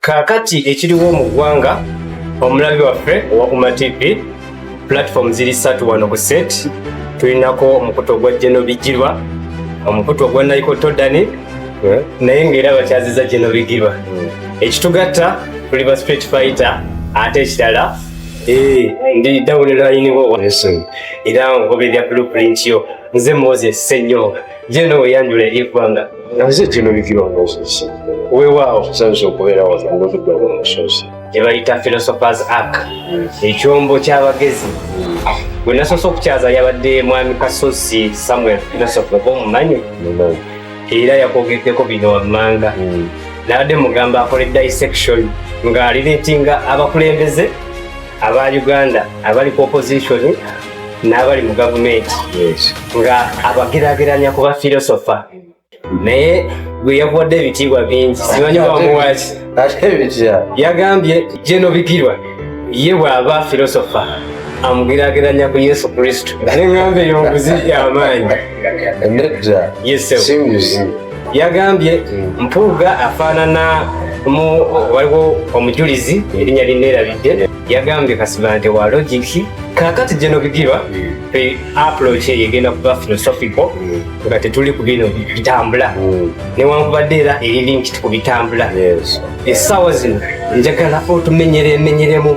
Kaakati ekiriwo mu ggwanga, omulabi waffe owa Uma TV, platform ziri ssatu wano ku set. Tulinako omukutu ogwa Jeno Bigirwa, omukutu ogwa Naiko Todani, eh? naye ng'era bakyaziza Jeno Bigirwa. Hmm. Ekitugatta tuli ba street fighter ate ekirala eh, ndi dawuni layiniwo era ngoberera blueprint yo nze moses senyonga Jeno weyanjula eri eggwanga naze jeno bikira omusozi wewaawo tusanze okubeera wano ngozudde omusozi kyebayita philosophers ark ekyombo ky'abagezi gwe nasoose okukyaza yabadde mwami kasosi samuel philosophy oba omumanyi era yakwogeddeko bino wammanga hmm. nabadde mugamba akole dissection ng'alireetinga abakulembeze aba uganda abali ku opposition n'abali mu gavumenti nga abagerageranya ku bafilosofa naye gwe yakuwadde ebitiibwa bingi simanyi wamuwaki yagambye jeno bigirwa ye bw'aba filosofa amugerageranya ku yesu kristo neŋŋamba eyo nguzi y'amaanyi yagambye mpuuga afaanana mu waliwo omujulizi erinnya linneerabidde yagambye kasiba nti wa logiki kakati gino bigirwa fe approach eyo egenda kuba philosophical nga tetuli ku bino bitambula newankubadde era eri linkit ku bitambula essaawa zino njagala otumenyera emenyeremu